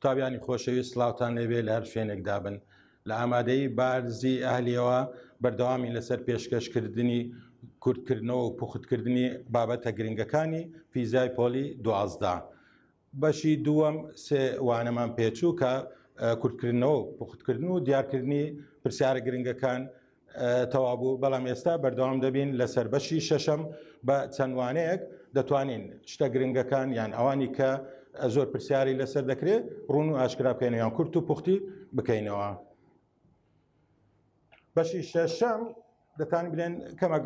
قوتابیانی خۆشەوی سلااوان لەوێ لە هەر شوێنێک دابن لە ئامادەی بارزی ئەهلیەوە بەردەوامی لەسەر پێشکەشکردنی کورتکردنەوە و پوختکردنی بابەتە گرنگەکانی فیزای پۆلی دوازدا بەشی دووەم سێ وانەمان پێچوو کە کورتکردنەوە و پوختکردن و دیارکردنی پرسیارە گرنگەکان تەوابوو بەڵام ئێستا بەردەوام دەبین لەسەر بەشی شەشەم بە چەندوانەیەک دەتوانین شتە گرنگەکان یان ئەوانی کە زۆر پرسیاری لەسەر دەکرێت ڕون و ئاشکرا بکەینەوەیان کورت و پوختی بکەینەوە. بەشی شەشەم دەتان بلێن کەمە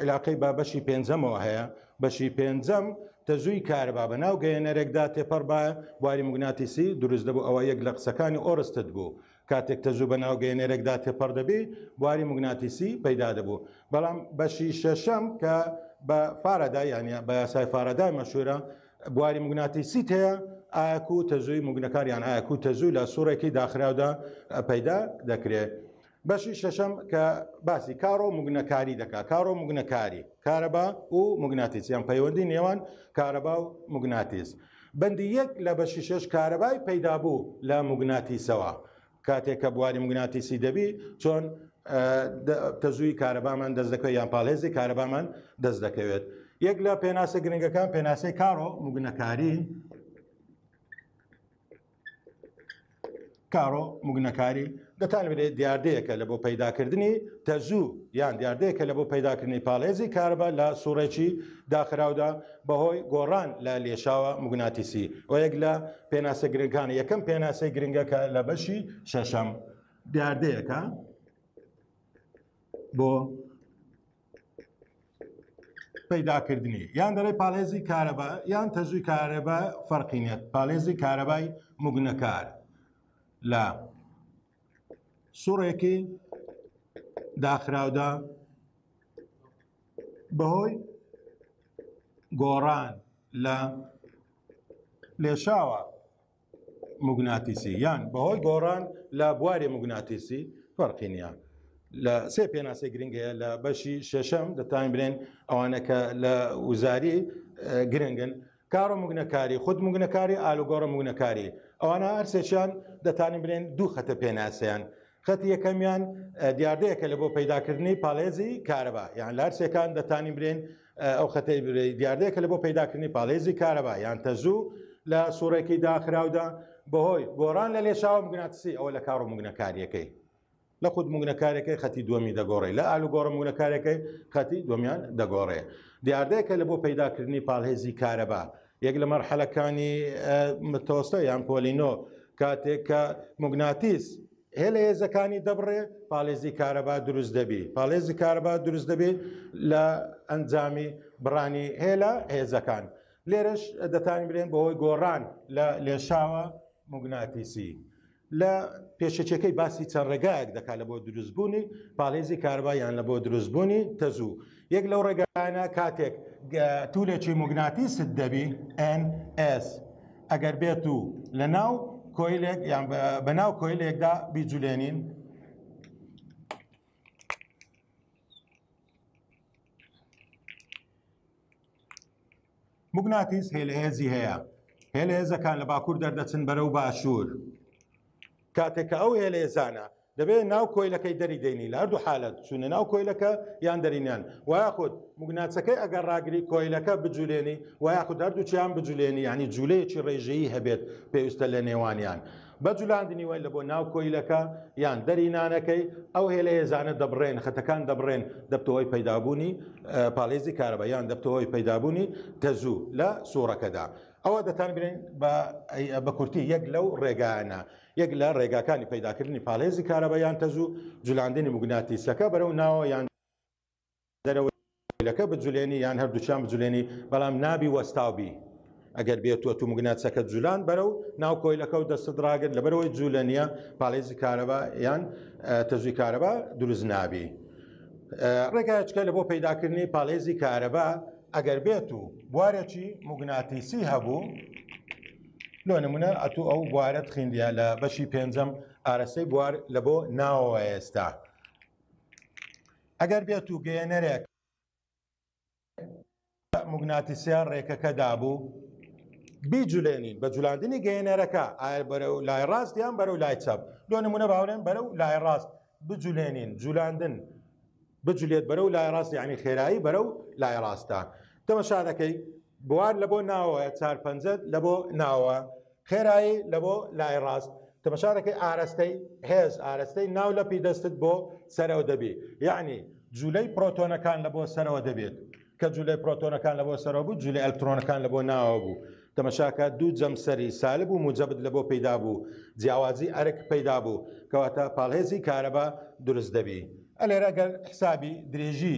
عیلاقەی با بەشی پێنجەمەوە هەیە بەشی پێنجەم تەزووی کارەبا بە ناو گەیەنەرێکدا تێپەڕ بە بواری مگناتیسی دروست دەبوو ئەوە یەک لە قسەکانی ئۆرستت بوو کاتێک تەزوو بە ناو گەیەنەرێکدا تێپەڕ دەبی بواری مگناتیسی پەیدا دەبوو بەڵام بەشی شەشەم کە بە فارەدا یانە بە یاسای فارەدای مەشورە بواری مگناتیسیت هەیە ئاک و تەزووی مگنەکاریان ئاک و تەزوو لە سوڕێکی داخراودا پەیدا دەکرێت بەشی شەشەم کە باسی کارۆ مگنەکاری دەکات کارۆ مگنەکاری کارەبا و مگناتیسیان پەیوەندی نێوان کارەبا و مگناتیس بەندی یەک لە بەشی شەش کارەبای پەیدابوو لە مگناتیسەوە کاتێک کە بواری مگناتیسی دەبی چۆن تەزووی کارەبامان دەست دەکەوێت یان پاڵێزی کارەبامان دەست دەکەوێت یەک لە پێناسە گرنگەکان پێناسەی کارۆ مگنەکاری کارۆ مگنەکاری دەتان بێت دیاردەیەکە لە بۆ پەیداکردنی تەزوو یان دیاردەیەکە لە بۆ پەیداکردنی پاڵێزی کارەبا لە سوڕێکی داخراودا بەهۆی گۆڕان لە لێشاوە موگناتیسی و یەک لە پێناسە گرنگەکان یەکەم پێناسەی گرنگەکە لە بەشی شەشەم دیاردەیەەکە بۆ پەیداکردنی یان دەڵێ پاڵێزی کارەبا یان تەزوی کارەبا فەرقینێت پاڵێزی کارەبای مگنەکار لە سوڕێکی داخراودا بەهۆی گۆڕان لە لێشاوە مگناتیسی یان بەهۆی گۆڕان لە بواری مگناتیسی فەرقی نیە لە سێ پێناسەی گرنگەیە لە بەشی شەشەم دەتوانین برێن ئەوانەکە لە وزاری گرنگن کارۆ مگنەکاری، خود مگنەکاری، ئالوگۆرۆ مگنەکاری، ئەوانە هەر سێکیان دەتانین بلێن دوو خەتە پێناسەیان. خەتی یەکەمیان دیاردەیەکە لە بۆ پەیداکردنی پاڵێزی کارەبا یان لە هەرسێکان دەتانی برێن ئەو خەتەی دیاردەیەکە لە بۆ پەیداکردنی پاڵێزی کارەبا یان تەزوو لە سوڕێکی داخراودا بەهۆی گۆڕان لە لێشاوە مگناتسی ئەوە لە کاڕ و مگنەکاریەکەی لە خود موگنەکارەکەی خەتی دووەمی دەگۆڕێ لە ئالوگۆڕە موگنەکارەکەی خەتی دومیان دەگۆڕێ دیاردەیەکە لە بۆ پەیداکردنی پاڵهێزی کارەبا یەک لە مەرحەلەکانی متۆستە یان پۆلینۆ کاتێک کە مگناتیس هێلە هێزەکانی دەبڕێ پاڵێزی کارەبا دروست دەبی پاڵێزی کارەبا دروست دەبێت لە ئەنجامی بڕانی هێلە هێزەکان لێرەش دەتانی برێن بەهۆی گۆڕان لە لێشاوە مگناتیسی لە پێشەکیەکەی باسی چەند ڕێگایەک دەکات لە بۆ دروستبوونی پاڵێزی کاربا یان لە بۆ دروستبوونی تەزوو یەک لەو ڕێگایانە کاتێک تورێکی مگناتیست دەبی NS ئەگەر بێت و لە ناو کۆیلێک یان بە ناو کۆیلێکدا بیجولێنین موگناتیس هێلهێزی هەیە هێلهێزەکان لە باکوور دەردەچن بەرەو باشوور کاتێک کە ئەو هێلێزانە دەبێت ناو کۆیلەکەی دەری دەینی لە هەردوو حالت چونە ناو کۆیلەکە یان دەرینیان وایاخود مگناچەکەی ئەگەر ڕاگری کۆیلەکە بجولێنی وایاخود هەردووچیان بجولێنی ینی جوولەیەکی ڕێژەیی هەبێت پێویستە لە نێوانیان بە جولاندنی وەن لە بۆ ناو کۆیلەکە یان دەری نانەکەی ئەو هێلە هێزانە دەبڕێن خەتەکان دەبڕێن دەبتەوەی پەیدابوونی پاڵێزی کارەبە یان دەبتەوەی پەیدابوونی تەزوو لە سوڕەکەدا ئەوە دەتان برێن بە کورتی یەک لەو ڕێگانە یەک لە ڕێگاکانی پەیداکردنی پاڵێزی کارەبە یان تەزوو جولاندنی مگناتیسەکە بەرەو ناوە یان دەرەوەی کۆیلەکە بجولێنی یان هەردووکیان بجولێنی بەڵام نابی وەستاو بی ئەگەر بێتوە تو مگناتسەکە جولان بەرەو ناو کۆیلەکە و دەستت ڕاگر لەبەرەوەی جوولە نیە پاڵێزی کارەبا یان تەزوی کارەبا دروست نابی ڕێگایچکە لە بۆ پەیداکردنی پاڵێزی کارەبا ئەگەر بێت و بوارێکی مگناتیسی هەبوو لۆ نمونە ئەتو ئەو بوارەت خیندە لە بەشی پێنجەم ئارەسەی بوار لە بۆ ناوە ئێستا ئەگەر بێت و گەیەنەرێک موگناتیسیان ڕێکەکە دابوو بیجولێنین بە جولاندنی گەیەنەرەکە ئایا بەرە و لای ڕاست یان بەرە و لای چاپ لۆ نمونە باورێن بەرە و لای ڕاست بجولێنین جولاندن بجولێت بەرە و لای ڕاست یعنی خێرایی بەرە و لای ڕاستە تەمەشا دەکەی بوار لە بۆ ناوە چار پەنجەت لە بۆ ناوە خێرایی لە بۆ لای ڕاست تەمەشارەکەی ئارەستەی هێز ئارەستەی ناو لەپی دەستت بۆ سەرەوە دەبی یعنی جوولەی پرۆتۆنەکان لە بۆ سەرەوە دەبێت کە جوولەی پرۆتۆنەکان لە بۆ سەرەوە بوو جوولە ئەلکترۆنەکان لە بۆ ناوە بوو تەمەشاکە دوو جەمسەری سالب و موجەبت لە بۆ پەیدا بوو جیاوازی ئەرک پەیدا بوو کەواتە پاڵهێزی کارەبا دروست دەبی ئەلێرە گەر حسابی درێژی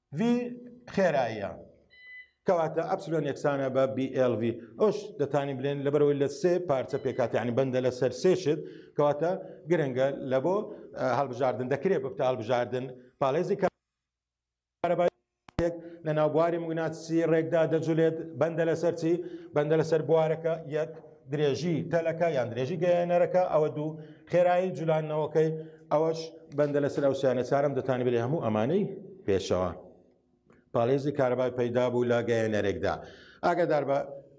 ڤی خێراییە کەواتە ئەپسلۆن یەکسانە بە BLV ئەوش دەتانی بلێن لەبەرەوەی لە سێ پارچە پێکات ینی بەندە لە سەر سێشت کەواتە گرنگە لە بۆ هەڵبژاردن دەکرێ بپتە هەڵبژاردن پاڵێزی کە لە ناوبواری مگناتسی ڕێکدا دەجولێت بەندە لەسەرچی بەندە لەسەر بوارەکە یەک درێژی تەلەکە یان درێژی گەیەنەرەکە ئەوە دوو خێرایی جولانەوەکەی ئەوەش بەندە لەسەر ئەو سیانە چارم دەتانی بێ هەموو ئەمانەی پێشەوە پاڵێزی کارەبای پەیدا بوو لە گەیەنەرێکدا ئاگادار بە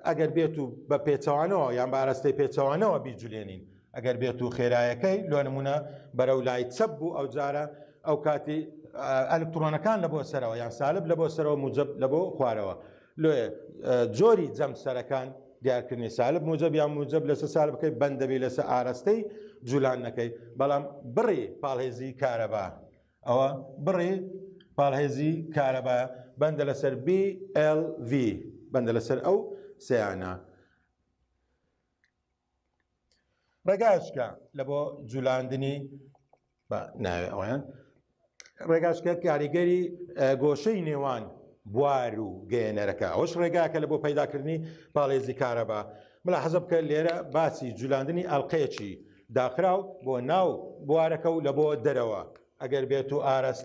ئەگەر بێت و بە پێچەوانەوە یان بە ئاراستەی پێچەوانەوە بیجولێنین ئەگەر بێت و خێرایەکەی لۆ نمونە بەرە و لای چەپ بوو ئەو جارە ئەو کاتی ئەلکترۆنەکان لە بۆ سەرەوە یان سالب لە بۆ سەرەوە موجب لە بۆ خوارەوە لۆیە جۆری جەم سەرەکان دیارکردنی سالب موجب یا موجب لەسە سال بکەیت بەندەبی لەسە ئارەستەی جولان نەکەی بەڵام بڕی پاڵهێزی کارەبا ئەوە بڕی پاڵهێزی کارەبا بەندە لەسەر BLV بەندە لەسەر ئەو سیانە ڕێگاشکە لە بۆ جولاندنی بە ناوێ ئەویان ڕێگاشکە کاریگەری گۆشەی نێوان بوار و گەێنەرەکە ئەوش ڕێگاکە لە بۆ پەیداکردنی پاڵێزی کارەبا ملا حەزە بکە لێرە باسی جولاندنی ئەلقەیەکی داخراو بۆ ناو بوارەکە و لە بۆ دەرەوە ئەگەر بێت و ئاراست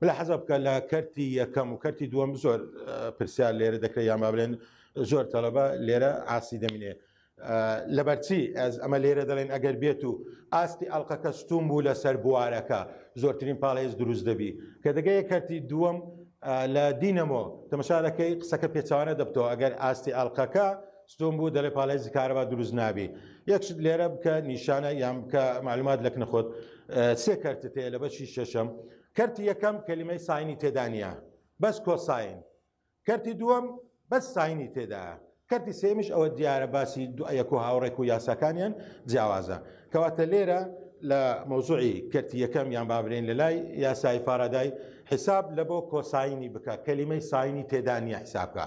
بلا حەزە بکە لە کەرتی یەکەم و کەرتی دووەم زۆر پرسیار لێرە دەکرێت یان بابلێن زۆر تەلەبە لێرە ئاسی دەمینێ لەبەرچی ئەز ئەمە لێرە دەڵێن ئەگەر بێت و ئاستی ئەڵلقەکە ستوم بوو لەسەر بوارەکە زۆرترین پاڵێز دروست دەبی کە دەگەیە کەرتی دووەم لە دینەمۆ تەمەشارەکەی قسەکە پێچوانە دەبتەوە ئەگەر ئاستی ئەڵلقەکە ستون بوو دەڵێ پاڵێزی کارەبا دروست نابی یەک شت لێرە بکە نیشانە یان بکە معلومات لە کنە خۆت سێ کەرتت هەیە لە بەشی شەشەم کەرتی یەکەم کەلیمەی ساینی تێدانە بەس کۆساین کەرتی دووەم بەس ساینی تێدا کەرتی سێمیش ئەوە دیارە باسی دوایەک و هاوڕێک و یاساکانیان جیاوازە کەواتە لێرە لە مەوزوعی کەرتی یەکەم یان بابرێن لە لای یاسای فارادای حیساب لە بۆ کۆساینی بکە کەلیمەی ساینی تێدانە حیسابکە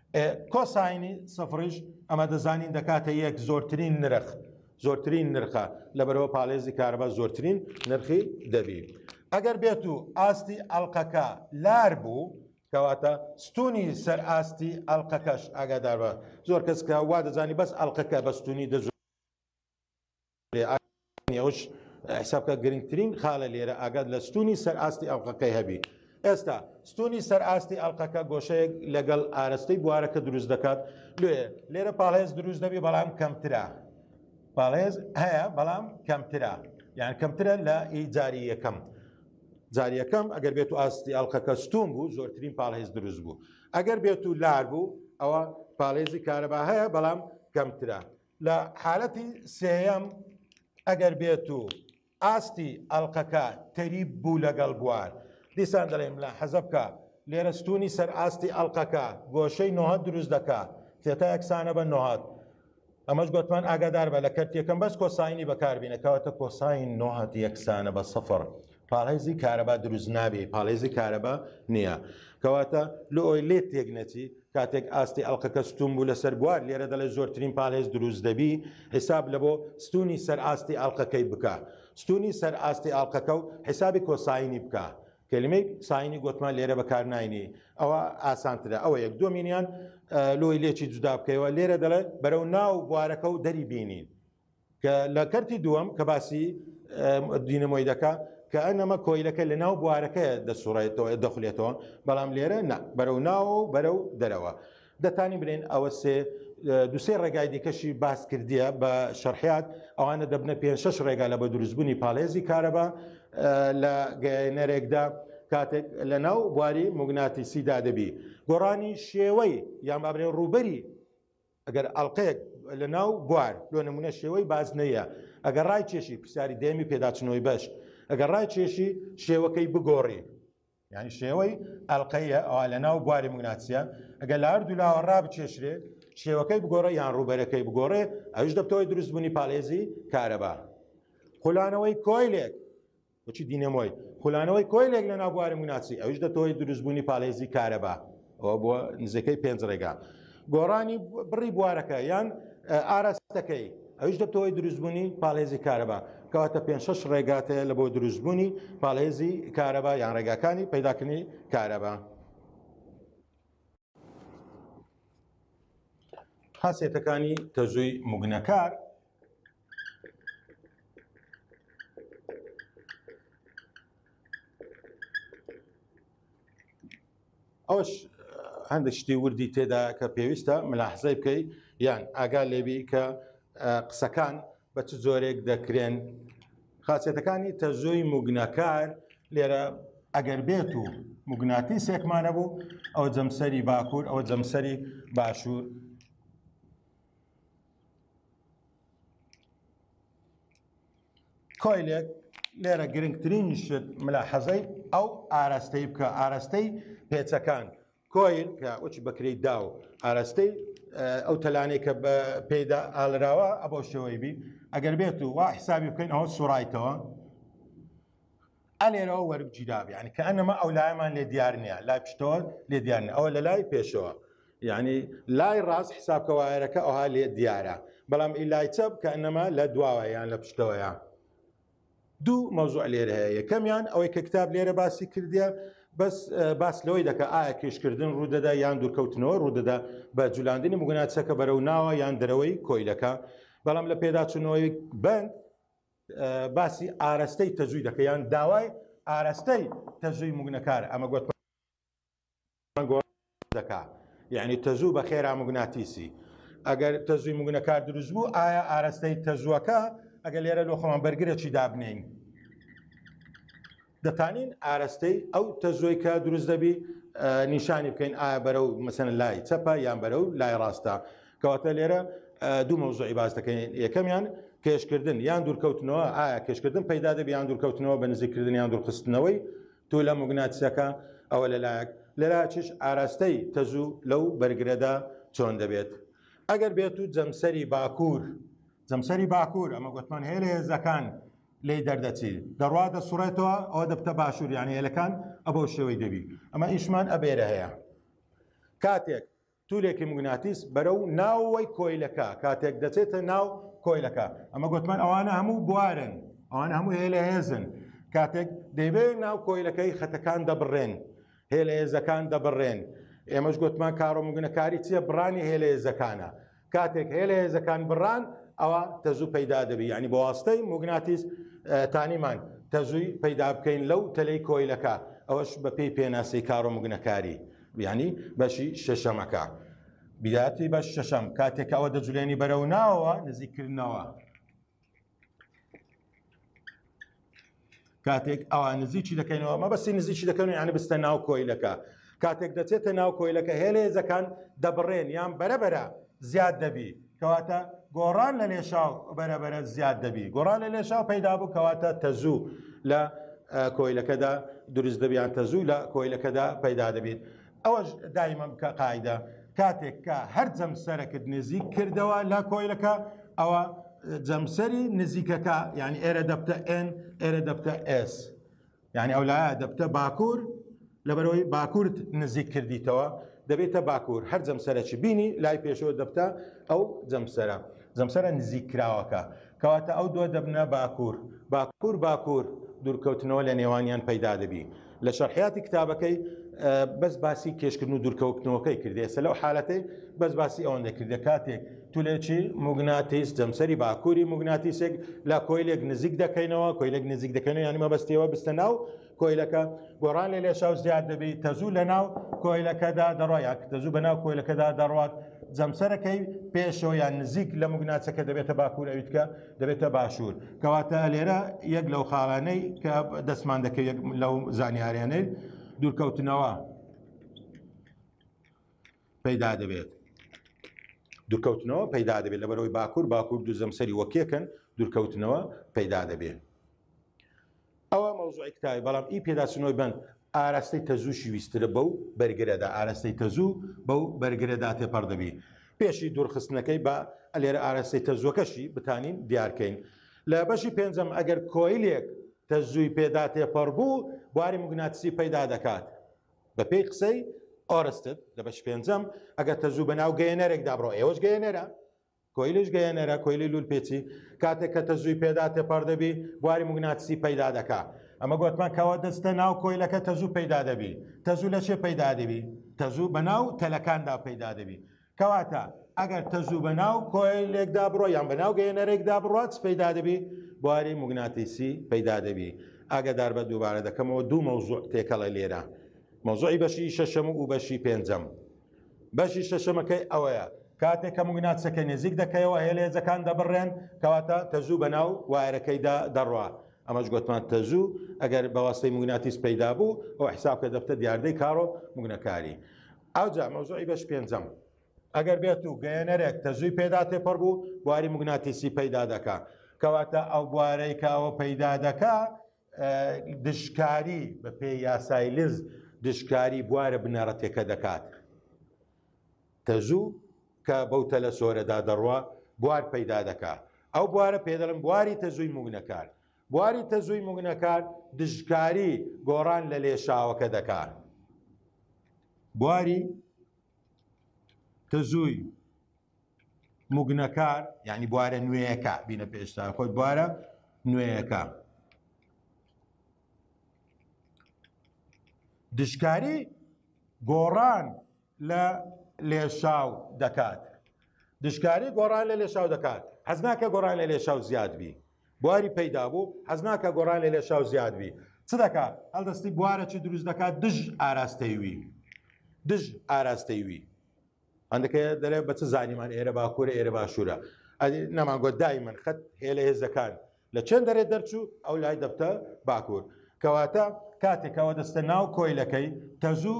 کۆساینی سفڕیش ئەمە دەزانین دەکاتە یەک زۆرترین نرخ زۆرترین نرخە لە بەرەوە پاڵێزی کارەبا زۆرترین نرخی دەبی ئەگەر بێت و ئاستی ئەلقەکە لار بوو کەواتە ستونی سەر ئاستی ئەلقەکەش ئاگاداربە زۆر کەسکە وا دەزانی بەس ئەلقەکە بەستونی دەزو ئەوەش حساب بکە گرنگترین خالە لێرە ئاگات لە ستونی سەر ئاستی ئەڵلقەکەی هەبی ئێستا ستونی سەر ئاستی ئەڵلقەکە گۆشەیەک لەگەڵ ئارستەی بوارەکە دروست دەکات لێ لێرە پاڵێز دروست دەبی بەڵام کەمترا پاڵێز هەیە بەڵام کەمترا یان کەمترە لە ئی جاری یەکەم جاریەکەم ئەگەر بێت و ئاستی ئەڵلقەکە ستون بوو زۆرترین پاڵێز دروست بوو ئەگەر بێت و لار بوو ئەوە پاڵێزی کارەبا هەیە بەڵام کەمترا لە حالەتی سێیەم ئەگەر بێت و ئاستی ئەڵلقەکە تەریب بوو لەگەڵ بوار دیسان دەڵێم لە حەزەبکە لێرە ستونی سەر ئاستی ئەڵلقەکە گۆشەی نۆهە دروست دەکە تێتا یەکسانە بە نۆهات ئەمەش گوتمان ئاگادار بە لە کەرتەکەم بەس کۆساینی بەکاربیینە کەواتە کۆساین نۆهات یەکسانە بە سەفر پاڵهێزی کارەبا دروست نابێ پاڵێزی کارەبا نییە کەواتە لۆ ئۆی لێت تێک نەچی کاتێک ئاستی ئەڵقەکە ستوون بوو لەسەر بوار لێرە دەڵێت زۆرترین پاڵێز دروست دەبی حیساب لە بۆ ستوونی سەر ئاستی ئەڵقەکەی بکە ستوونی سەر ئاستی ئەڵقەکە و حیسابی کۆساینی بکە کەلیمەی ساینی گۆتمان لێرە بەکار ناینی ئەوە ئاسانترە ئەوە یەک دۆمینیان لۆی لێکی جودا بکەیەوە لێرە دەڵێت بەرەو ناو بوارەکە و دەری بینین کە لە کەرتی دووەم کە باسی دینەمۆی دەکا کە ئەنەمە کۆیلەکە لە ناو بوارەکە دەسوڕێتەوە دەخولێتەوە بەڵام لێرە نا بەرەو ناوە و بەرەو دەرەوە دەتانی بلێن ئەوە سێ دوسێ ڕێگای دیکەشی باس کردیە بە شەرحات ئەوانە دەبنە پێ شش ڕێگا لە بە دروستبوونی پاڵێزی کارەبا لە گەێنەرێکدا کاتێک لە ناو بواری مگناتیسیدا دەبی گۆڕانی شێوەی یان بابرێ ڕوبەری ئەگەر ئەڵقەیەک لە ناو بوار لۆ نموونە شێوەی بازنەییە، ئەگەر ڕای کێشی پرسیاری دەیەمی پێداچنەوەی بەش، ئەگەر ڕای کێشی شێوەکەی بگۆڕی، یانی شێوەی ئەڵقەییە ئەوا لە ناو بواری موگناتسییە، ئەگەر لە هەردوو لاوە ڕا بکێشرێ شێوەکەی بگۆڕێ یان ڕووبەرەکەی بگۆڕێ ئەویش دەبتەوەی دروست بوونی پاڵێزی کارەبا. خولانەوەی کۆیلێک بچی دینەمۆی خولانەوەی کۆیلێک لە ناو بواری مناسی ئەوش دەتەوەی دروستبوونی پالێزی کارەبا ئەوە بۆ نزیکەی پێنج ڕێگا گۆڕانی بڕی بوارەکە یان ئاراستەکەی ئەوش دەتەوەی دروستبوونی پالێزی کارەبا کەواتە پێ شش ڕێگاتەیە لە بۆ دروستبوونی پالێزی کارەبا یان ڕێگاکانی پەیداکردنی کارەبا خاصێتەکانی تەزووی مگنەکار ئەوش هەندێک شتی وردی تێدا کە پێویستە ملاحزەی بکەی یان ئاگا لێبی کە قسەکان بە چ جۆرێک دەکرێن خاچێتەکانی تەزۆی مگنەکار لێرە ئەگەر بێت و مگناتی سێکمانە بوو ئەو جەمسەری باکوور ئەو جەمسەری باشوور کۆیلێک لێرە گرنگترین شت ملا حەزەی ئەو ئاراستەی بکە ئاراستەی پێچەکان کۆیل کە ئۆچ بەکری دا و ئاراستەی ئەو تەلانێک کە بە پێدا ئالراوە ئەبەو شێوەی بی ئەگەر بێت و وا حسابی بکەین ئەوە سوڕایتەوە ئە لێرەوە وەربگیرا یعنی کە ئەنەما ئەو لایەمان لێ دیار نییە لای پشتەوە لێ دیار نیە ئەوە لە لای پێشەوە یعنی لای ڕاست حسابکە وایەرەکە ئەوها لێ دیارە بەڵام ئی لای چەپ کە ئەنەما لە دواوە یان لە پشتەوەیە دوو مەوزوع لێر هەیە یەکەمیان ئەوەی کە کتاب لێرە باسی کردە بەس باس لەوەی دەکە ئایا کێشکردن ڕوودەدا یان دوورکەوتنەوە ڕوودەدا بە جولاندنی مگوناچەکە بەرەو ناوە یان دەرەوەی کۆیلەکە بەڵام لە پێداچوونەوەی بند باسی ئارەستەی تەجوی دەکە یان داوای ئارەستەی تەجوی مگنەکار ئەمە گوت دەکا یعنی تەزوو بە خێرا مگناتیسی ئەگەر تەزوی مگنەکار دروست بوو ئایا ئارەستەی تەزوەکە ئەگە لێرە لۆخەمان بەرگرە چی دابنین دەتانین ئارەستەی ئەو تەزۆی کە دروست دەبی نیشانی بکەین ئایا بەرە و مەسەن لای چەپە یان بەرە و لای ڕاستە کەواتە لێرە دوو مەوزوعی باز دەکەین یەکەمیان کێشکردن یان دوورکەوتنەوە ئایا کێشکردن پەیدا دەبی یان دوورکەوتنەوە بە نزیکردن یان دوورخستنەوەی تو لە مگناتسەکە ئەوە لەلایەک لەراچش ئاراستەی تەزوو لەو بەرگرەدا چۆن دەبێت ئەگەر بێت و جەمسەری باکوور جەمسەری باکوور ئەمە گوتمان هەیە لە هێزەکان لێی دەردەچی دەڕوا دەسوڕێتەوە ئەوە دەبتە باشوور یانی هێلەکان ئەبەو شێوەی دەبی ئەمە ئیشمان ئەبێرە هەیە کاتێک تولێکی مگناتیس بەرە و ناوەوەی کۆیلەکە کاتێک دەچێتە ناو کۆیلەکە ئەمە گوتمان ئەوانە هەموو بوارن ئەوان هەموو هێلە هێزن کاتێک دەیبێت ناو کۆیلەکەی خەتەکان دەبڕێن هێلە هێزەکان دەبڕێن ئێمەش گوتمان کارۆمگنەکاری چییە بڕانی هێلە هێزەکانە کاتێک هەیە لە هێزەکان بڕان ئەوە تەزوو پەیدا دەبی ینی بەواستەی موگناتیس تانیمان تەزووی پەیدا بکەین لەو تەلەی کۆیلەکە ئەوەش بە پێی پێناسی کارۆمگنەکاری بیانی بەشی شەشەمەکە بیاتی بەش شەشەم کاتێکەوە دەجولێنی بەرەو ناوە نزیکردنەوە کاتێک ئەوە نزیکی دەکەینەوە مەبەستی نزیکی دەکەن یانە بستە ناو کۆیلەکە کاتێک دەچێتە ناو کۆیلەکە هێلێزەکان دەبڕێن یان بەرەبەرە زیاد دەبی کەواتە گۆڕان لە لێشاو بەرەبەرە زیاد دەبی گۆڕان لە لێشاو پەیدا بوو کەواتە تەزوو لە کۆیلەکەدا دروست دەبیان تەزوو لە کۆیلەکەدا پەیدا دەبیت ئەوەش دایمە بکە قاعدە کاتێک کە هەر جەمسەرەکت نزیک کردەوە لە کۆیلەکە ئەوە جەمسەری نزیکەکە یعنی ئێرە دەبتە ئێن ئێرە دەبتە ئس یعنی ئەو لایە دەبتە باکوور لەبەرەوەی باکوورت نزیک کردیتەوە دەبێتە باکوور هەر جەمسەرەکی بینی لای پێشەوە دەبتە ئەو جەمسەرە جەمسەرە نزیک کراوەکە کەواتە ئەو دوە دەبنە باکور باکور باکور دوورکەوتنەوە لە نێوانیان پەیدا دەبی لە شەرحیاتی کتابەکەی بەس باسی کێشکردن و دوورکەوتنەوەکەی کردێ سە لەو حالەتەی بەس باسی ئەوەن دەکردە کاتێک تولێکی مگناتیس جەمسەری باکووری مگناتیسێک لە کۆیلێک نزیک دەکەینەوە کۆیلێک نزیک دەکەن یانی مەبەستەوە بستە ناو کۆیلەکە گۆڕان لە لێشاو زیاد دەبی تەزوو لە ناو کۆیلەکەدا دەڕۆیان تەزوو بە ناو کۆیلەکەدا دەڕات جەمسەرەکەی پێشەوە یان نزیک لە مگوناچەکە دەبێتە باکوور ئەویتکە دەبێتە باشوور کەواتە لێرە یەک لەو خاڵانەی کە دەستمان دەکە یەک لەو زانیاریانەی دوورکەوتنەوە پەیدا دەبێت دوورکەوتنەوە پەیدا دەبێت لە بەرەوەی باکوور باکوور دوو زەمسەری وەکێکن دوورکەوتنەوە پەیدا دەبێت ئەوە مەوزوعی کتابی بەڵام ئی پێداچنەوەی بەند ئاراستەی تەزووشی ویسترە بەو بەرگرەدا ئاراستەی تەزوو بەو بەرگرەدا تێپەڕ دەبی پێشی دوورخستنەکەی بە ئەلێرە ئاراستەی تەزووەکەشی بتانین دیارکەین لە بەشی پێنجەم ئەگەر کۆیلێک تەزووی پێدا تێپەڕ بوو بواری مگناتسی پەیدا دەکات بەپێی قسەی ئۆرستت لە بەش پێنجەم ئەگەر تەزوو بە ناو گەیەنەرێکدا بڕۆ ئێوەش گەیەنەرە کۆیلەش گەیەنەرە کۆیلی لول پێچی کاتێک کە تەزووی پێدا تێپەڕ دەبی بواری مگناتسی پەیدا دەکا ئەمە گوتمان کەەوە دەستە ناو کۆیلەکە تەزوو پەیدا دەبی تەزوو لە چێ پەیدا دەبی تەزوو بە ناو تەلەکاندا پەیدا دەبی کەواتە ئەگەر تەزوو بە ناو کۆیلێکدا بڕۆ یان بە ناو گەیەنەرێکدا بڕات پەیدا دەبی بواری مگناتیسی پەیدا دەبی ئاگدار بە دووبارە دەکەمەوە دوو مەوزوع تێکەڵە لێرە مەوزوعی بەشی شەشەم و بەشی پێنجەم بەشی شەشەمەکەی ئەوەیە کاتێک کە مگناتسەکە نێزیک دەکەیەوە هێلێزەکان دەبڕێن کەواتە تەزوو بەناو وایەرەکەیدا دەڕوا ئەمەش گوتمان تەزوو ئەگەر بەواستەی مگناتیس پەیدا بوو ئەو حسابکە دەفتە دیاردەی کارۆ مگنەکاری ئەوجا مەوزوعی بەش پێنجەم ئەگەر بێت و گەیەنەرێک تەزووی پێدا تێپەڕ بوو بواری مگناتیسی پەیدا دەکا کەواتە ئەو بوارەی کاوە پەیدا دەکا دژکاری بە پێ یاسای لز دژکاری بوارە بنەڕەتەکە دەکات تەژوو کە بەو تەلە سۆرەدا دەڕوە بوار پەیدا دەکات ئەو بوارە پێدەڵم بواری تەزووی موگنەکان بواری تەزووی موگنەکان دژکاری گۆڕان لە لێشاوەکە دەکات بواری تەزووی مگنەکار یعنی بوارە نوێیەکە بینە پێشتا خۆی بوارە نوێیەکە دشکاری گۆڕان لە لێشاو دەکات دشکاری گۆڕان لە لێشاو دەکات حەز ناکە گۆڕان لە لێشاو زیاد بی بواری پەیدا بوو حەز ناکە گۆڕان لە لێشاو زیاد بی چ دەکات هەڵدەستی بوارە چی دروست دەکات دژ ئاراستەیوی دژ ئاراستەیوی هەندەکە دەرێ بە چ زانیمان ئێرە باکوورە ئێرە باشوورە ئەدی نەمانگووە دایمەن خەت هێلە هێزەکان لە چێن دەرێ دەرچوو ئەو لای دەبتە باکوور کەواتە کاتێکەوە دەستە ناو کۆیلەکەی تەزوو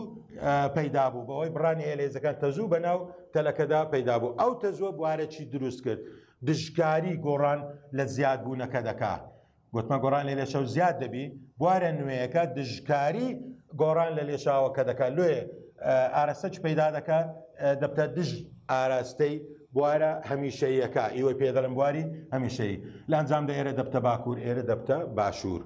پەیدا بوو بەوەی بڕانی هێلێزەکان تەزوو بە ناو تەلەکەدا پەیدا بوو ئەو تەزووە بوارەی دروست کرد دژکاری گۆڕان لە زیادبوونەکە دەکات گوتمە گۆڕان لە لێشەو زیاد دەبی بوارە نوێیەکە دژکاری گۆڕان لە لێشاوەکە دەکات لێ ئارەسەج پەیدا دەکات دەبتە دژ ئاراستەی بوارە هەمیشەیەەکە ئیوە پێدەڵم بواری هەمیشەی لە ئەنجام دە ئێرە دەبتە باکوور ئێرە دەبتە باشوور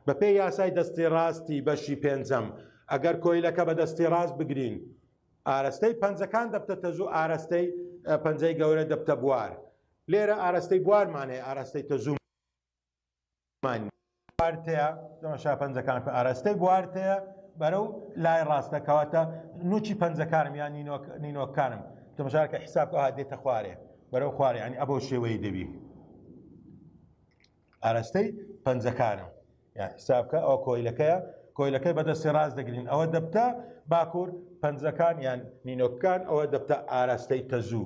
بەپێی یاسای دەستی ڕاستی بەشی پێنجەم ئەگەر کۆیلەکە بە دەستی ڕاست بگرین ئارەستەی پەنجەکان دەبتە تەزوو ئارەستەی پەنجەی گەورە دەبتە بوار لێرە ئارەستەی بوارمانەیە ئارەستەی تەزوو مانی بوارتەیە تەماشا پەنجەکان کە ئاراستەی بوارتەیە بەرەو لای ڕاستە کەواتە نوچی پەنجەکانم یان نینۆکانم تەماشاکە حساب ئەوها دێتە خوارێ بەرەو خوارێ ینی ئەبەو شێوەی دەبی ئاراستەی پەنجەکانم یا حسابکە ئەو کۆیلەکەیە کۆیلەکەی بەدەستی ڕاست دەگرین ئەوە دەبتە باکوور پەنجەکان یان نینۆکان ئەوە دەبتە ئاراستەی تەزوو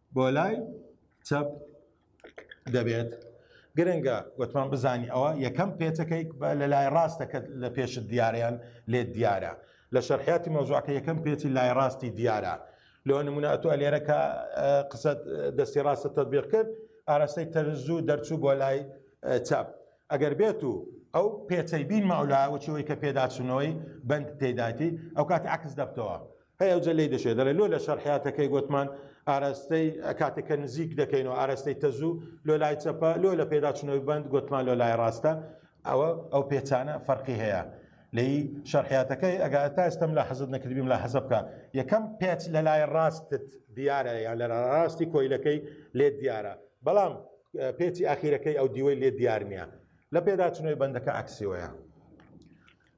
بۆ لای چەپ دەبێت گرنگە وتمان بزانی ئەوە یەکەم پێچەکەی لە لای ڕاستەکە لە پێشت دیارەیان لێت دیارە لە شەرحیاتی مۆزوعەکە یەکەم پێچی لای ڕاستی دیارە لۆ نمونە ئەتو ئەلێرەکە قسە دەستی ڕاستە تەبیق کرد ئاراستەی تەرزوو دەرچوو بۆ لای چاپ ئەگەر بێت و ئەو پێچەی بین مەولا وچەوەی کە پێداچوونەوەی بند تێداتی ئەو کات عکس دەبتەوە هەی ئەوجە لێی دەشێ دەڵێ لۆ لە شەرحیاتەکەی گوتمان ئاراستەی کاتێک کە نزیک دەکەین و ئاراستەی تەزوو لۆ لای چەپە لۆ لە پێداچنەوەی بند گوتمان لۆ لای ڕاستە ئەوە ئەو پێچانە فەرقی هەیە لەی شەرحیاتەکەی ئەگا تا ئێستم لە حەزت نەکردبیم لە حەزە بکە یەکەم پێچ لە لای ڕاستت دیارە یان لە ڕاستی کۆیلەکەی لێ دیارە بەڵام پێچی ئاخیرەکەی ئەو دیوەی لێ دیار نییە لە پێداچنەوەی بەندەکە ئەکسیۆیە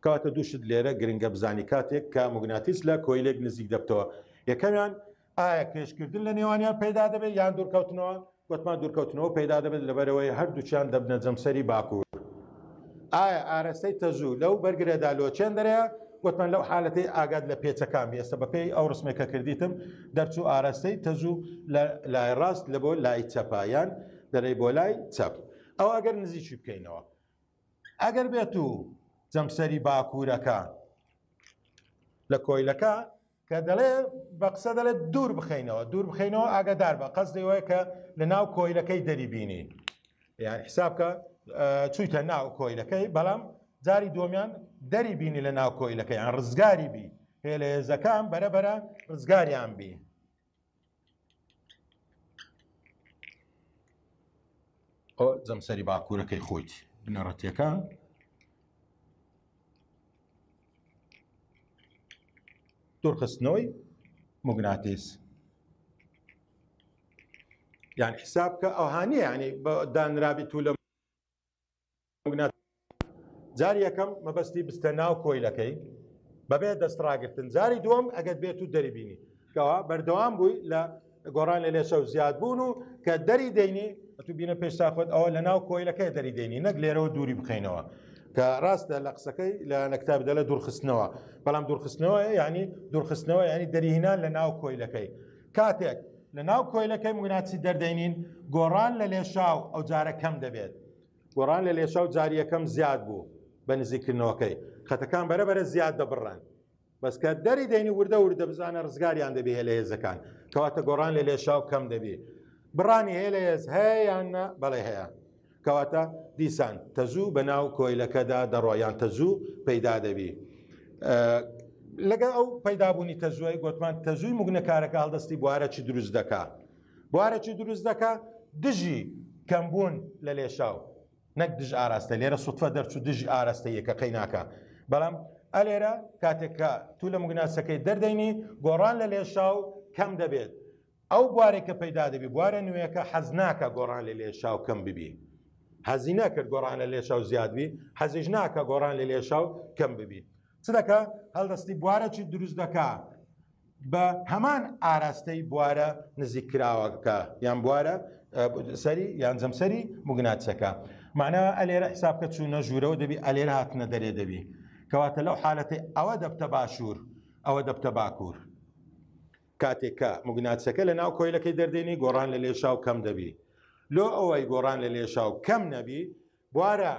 کەواتە دوو شت لێرە گرنگە بزانی کاتێک کە موگناتیس لە کۆیلێک نزیک دەبتەوە یەکەمیان ئایا پێشکردن لە نێوانیان پەیدا دەبێت یان دوورکەوتنەوە گوتمان دوورکەوتنەوە پەیدا دەبێت لەبەرەوەی هەردووچیان دەبنە جەمسەری باکوور ئایا ئارەستەی تەزوو لەو بەرگرەدا لۆچێن دەرەیە گوتمان لەو حالەتی ئاگات لە پێچەکان بێستە بەپێی ئەو ڕسمێکە کردیتم دەرچوو ئارەستەی تەزوو لە لای ڕاست لە بۆ لای چەپایان دەرەی بۆ لای چەپ ئەو ئەگەر نزیکی بکەینەوە ئەگەر بێت و جەمسەری باکوورەکە لە کۆیلەکە کە دەڵێ بە قسە دەڵێت دوور بخینەوە دوور بخینەوە ئاگادار بە قەس دەوەیە کە لە ناو کۆیلەکەی دەری بینی یان حسابکە چوویتە ناو کۆیلەکەی بەڵام جاری دۆمیان دەری بینی لە ناو کۆیلەکەیان ڕزگاری بی هێلێزەکان بەرەبەرە ڕزگاریان بی ئۆ جەمسەری باکوورەکەی خۆیت بنەڕەتیەکە دوورخستنەوەی مگناتیس یان حساب کە ئەوهانیە ینی بە دانرابیت و لە جاری یەکەم مەبەستی بستە ناو کۆیلەکەی بەبێ دەست ڕاگرتن جاری دووەم ئەگەر بێت و دەریبینی کەوا بەردەوام بووی لە گۆڕان لە لێشە و زیاد بوون و کە دەری دەینی تو بینە پێش ساخۆت ئەوە لە ناو کۆیلەکەی دەری دەینی نەک لێرەوە دووری بخینەوە کە ڕاستە لە قسەکەی لە نەکتاب دە لە دوورخستنەوە بەڵام دوورخستنەوە یعنی دوورخستنەوە ینی دەریهینان لە ناو کۆیلەکەی کاتێک لە ناو کۆیلەکەی مگناتیسی دەردەینین گۆڕان لە لێشاو ئەو جارە کەم دەبێت. گۆڕان لە لێشاو جار یەکەم زیاد بوو بە نزیککردنەوەکەی خەتەکان بەرە بەرە زیاد دەبڕن. بەس کە دەری دەینی وردە وردە بزانە ڕزگاریان دەبێ هێلە هێزەکان کەواتە گۆڕان لە لێشاو کەم دەبی. بڕانی هێلە هێز هەیە یان نە بەڵێ هەیە. کەواتە دیسان تەزوو بە ناو کۆیلەکەدا دەڕۆ یان تەزوو پەیدا دەبی لەگە ئەو پەیدابوونی تەزووی گوتمان تەزووی مگنەکارەکە هەڵدەستی بوارە چی دروست دەکا بوارە چی دروست دەکا دژی کەمبوون لە لێشاو نەک دژ ئاراستە لێرە سوتفە دەرچوو دژی ئاراستە یەکە قەیناکە بەڵام ئەلێرە کاتێککە تو لە مگناسەکەی دەردەینی گۆڕان لە لێشاو کەم دەبێت ئەو بوارەی کە پەیدا دەبی بوارە نوێیەکە حەز ناکا گۆڕان لە لێشاو کەم ببی حەزی نەکرد گۆڕان لە لێشاو زیاد بی حەزیش ناکا گۆڕان لە لێشاو کەم ببی چ دەکا هەڵدەستی بوارەکی دروست دەکا بە هەمان ئاراستەی بوارە نزیک کراوەکە یان بوارە سەری یان جەمسەری مگناتسەکە معنە ئەلێرە حساب کە چوو نەژوورەوە دەبی ئەلێرە هاتنە دەرێ دەبی کەواتە لەو حالەتی ئەوە دەبتە باشوور ئەوە دەبتە باکوور کاتێک کە موگناتسەکە لە ناو کۆیلەکەی دەردێنی گۆڕان لە لێشاو کەم دەبی لۆ ئەوەی گۆڕان لە لێشاو کەم نەبی بوارە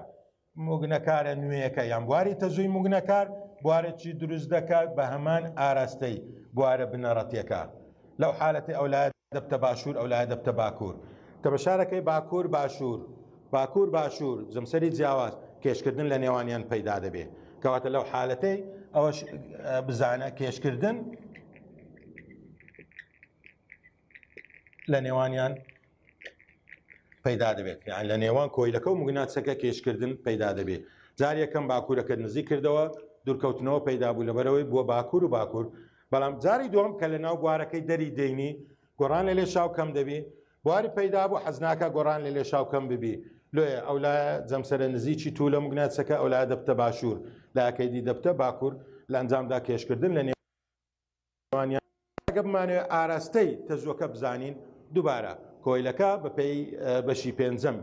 موگنەکارە نوێیەکە یان بواری تەزووی موگنەکار بوارەی دروست دەکات بە هەمان ئاراستەی بوارە بنەڕەتیەکە لەو حالەتی ئەولاد دەبتە باشوور ئەو لای دەبتە باکوور کە بە شارەکەی باکوور باشوور باکوور باشوور جمسەری جیاواز کێشکردن لە نێوانیان پەیدا دەبێت کەواتە لەو حالەتەی ئەوەش بزانە کێشکردن لە نێوانیان پەیدا دەبێت یان لە نێوان کۆیلەکە و مگناتسەکە کێشکردن پەیدا دەبێت جار یەکەم باکوورەکە نزیک کردەوە دوورکەوتنەوە پەیدا بوو لەبەرەوەی بووە باکوور و باکوور بەڵام جاری دوم کە لە ناو بوارەکەی دەری دەینی گۆڕان لە لێ شاو کەم دەبی بواری پەیدا بوو حەزناکە گۆڕان لە لێ شاو کەم ببی لۆیە ئەولا جەمسەرە نزیکی تو لە مگناتسەکە ئەولا دەبتە باشوور لاکەیدی دەبتە باکوور لە ئەنجامدا کێشکردن لە نێو ئەگەر بمانەوێت ئاراستەی تەزووەکە بزانین دووبارە کۆیلەکە بەپی بەشی پێنجەم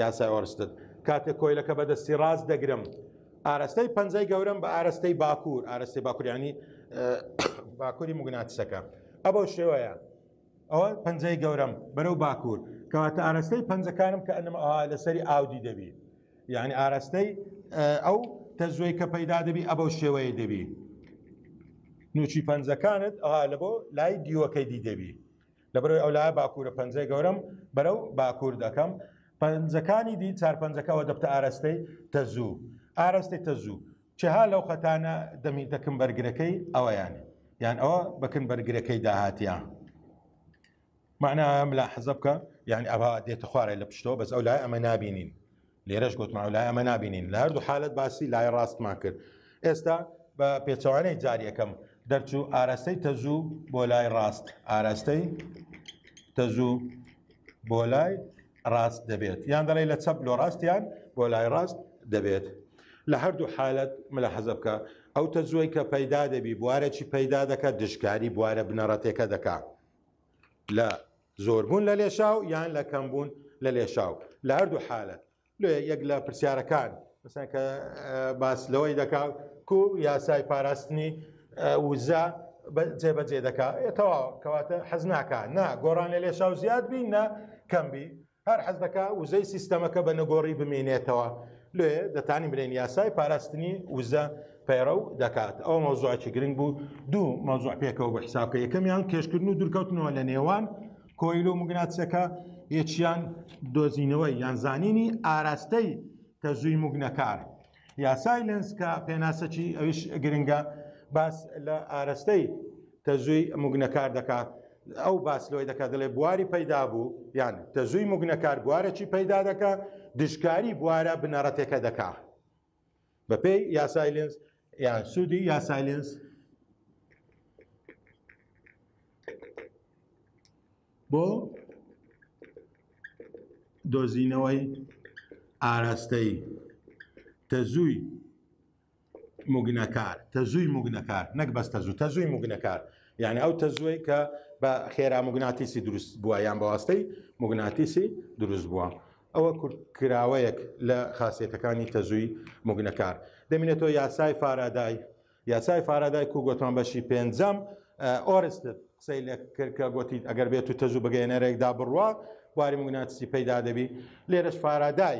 یاسای ئۆرستد کاتێک کۆیلەکە بەدەستی ڕاست دەگرم ئاراستەی پەنجەی گەورم بە ئاراستەی باکوور ئاراستەی باکوریانی باکووری مگناتسەکە ئەبەو شێوەیە ئەوە پەنجەی گەورم بەرەو باکوور کەواتە ئاراستەی پەنجەکانم کە ئەنم لەسەری ئاودی دەبی یعنی ئاراستەی ئەو تەزوێ کە پەیدا دەبی ئەبە شێوەیە دەبی نوچی پەنجەکانت ئەها لە بۆ لای دیوەکەی دی دەبی لەبەرەوەی ئەو لای باکوورە پەنجەی گەورم بەرەو باکوور دەکەم پەنجەکانی دی چار پەنجەکەەوە دەبتە ئاراستەی تەزوو ئاراستەی تەزوو چها لەو خەتانە دەمی دەکەم بەرگرەکەی ئەوەیان یان ئەوە بەکن بەرگرەکەی داهاتیان معنای ئەوە ملاحظە بکە یعنی ئەوە دێتە خوارێ لە پشتەوە بەس ئەو لای ئەمە نابینین لێرەش گوتمان و لای ئەمە نابینین لە هەردوو حالت باسی لای ڕاستمان کرد ئێستا بە پێچەوانەی جار یەکەم دەرچوو ئارەستەی تەزوو بۆ لای ڕاست ئارەستەی تەزوو بۆ لای ڕاست دەبێت یان دەڵێ لە چەپ لۆ ڕاستیان بۆ لای ڕاست دەبێت لە هەردوو حالت ملە حەزە بکە ئەو تەزووی کە پەیدا دەبی بوارەی پەیدا دەکات دژکاری بوارە بنەڕەتێکە دەکات لە زۆربوون لە لێشاو یان لە کەمبوون لە لێشاو لە هەردوو حالت لێ یەک لە پرسیارەکان مثلا کە باس لەوەی دەکا کو یاسای پاراستنی وزە جێبەجێ دەکا تەواو کەواتە حەز ناکە نا گۆڕان لە لێشاو زیاد بین نە کەمبی هەر حەز دەکا وزەی سیستەمەکە بە نەگۆڕی بمینێتەوە لێ دەتانی برێن یاسای پاراستنی وزە پەیڕەو دەکات ئەو مەوزوعکی گرنگ بوو دوو مەوزوع پێکەوە بە حسابکە یەکەمیان کێشکردن و دوورکەوتنەوە لە نێوان کۆیل و مگناتسەکە یەکیان دۆزینەوەی یان زانینی ئاراستەی تەزووی مگنەکار یاسای لەنسکە پێناسەکی ئەوش گرنگە باس لە ئارستەی تەزووی موگنەکار دەکا ئەو باس لەوەی دەکات دەڵێ بواری پەیدا بوو یان تەزووی موگنەکار بوارەکی پەیدا دەکا دژکاری بوارە بنەڕەتێکە دەکا بەپێی یاسایلنس یان سوودی یاسایلنس بۆ دۆزینەوەی ئاراستەی تەزووی موگنەکار، تەزووی موگنەکار، نەک بەس تەزوو، تەزووی موگنەکار، یانێ ئەو تەزووەی کە بە خێرا موگناتیسی دروست بووە یان بەواستەی موگناتیسی دروست بووە. ئەوە کورتکراوەیەک لە خاسیەتەکانی تەزووی موگنەکار. دەمینێتەوە یاسای فارادای، یاسای فارادای کو گۆتمان بەشی پێنجەم ئۆرستد قسەی لە کرد کە گۆتی ئەگەر بێت و تەزوو بگەێنەرێکدا بڕوا باری موگناتیسی پەیدا دەبی، لێرەش فارادای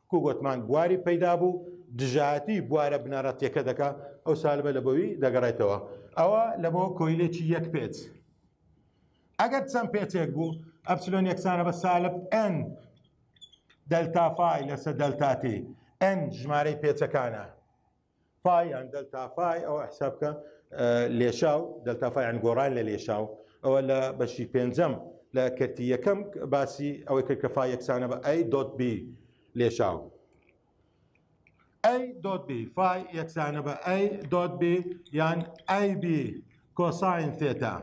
وەکو گۆتمان بواری پەیدا بوو دژایەتی بوارە بنەڕەتیەکە دەکا ئەو سالبە لە بۆوی دەگەڕێتەوە ئەوە لە بۆ کۆیلێکی یەک پێچ ئەگەر چەند پێچێک بوو ئەپسلۆن یەکسانە بە سالب ئەن دەلتافای لەسە دەلتاتی ئەن ژمارەی پێچەکانە فای یان دەلتا فای ئەوە حساب بکە لێشاو دەلتا فای یان گۆڕان لە لێشاو ئەوە لە بەشی پێنجەم لە کەرتی یەکەم باسی ئەوەی کرد کە فای یەکسانە بە ئەی دۆت بی لێشاو ئەی دۆت بی فای یەکسانە بە ئەی دۆت بی یان ئەی بی کۆساین تێتا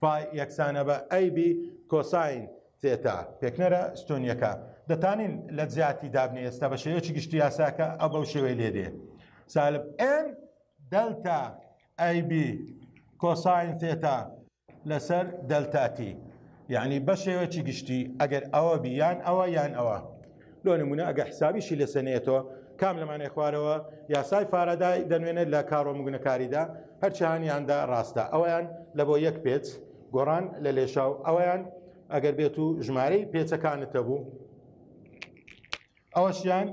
پای یەکسانە بە ئەی بی کۆساین تێتا پێکنەرە ستۆنیەکە دەتانین لە جیاتی دابنی ئێستا بە شێوەیەکی گشتی یاساکە ئە بەو شێوەی لێ دێ سالب ئێن دەلتا ئەی بی کۆساین تێتا لەسەر دەلتاتی یعنی بە شێوەیەکی گشتی ئەگەر ئەوە بیان ئەوە یان ئەوە لۆ نمونە ئەگە حسابیشی لەسێ نێتەوە کام لەمانەی خوارەوە یاسای فارەدای دەنوێنێت لە کارۆ مگونەکاریدا هەرچیانیاندا ڕاستە ئەویان لە بۆ یەک پێچ گۆڕان لە لێشاو ئەویان ئەگەر بێت و ژمارەی پێچەکانتە بوو ئەوەشیان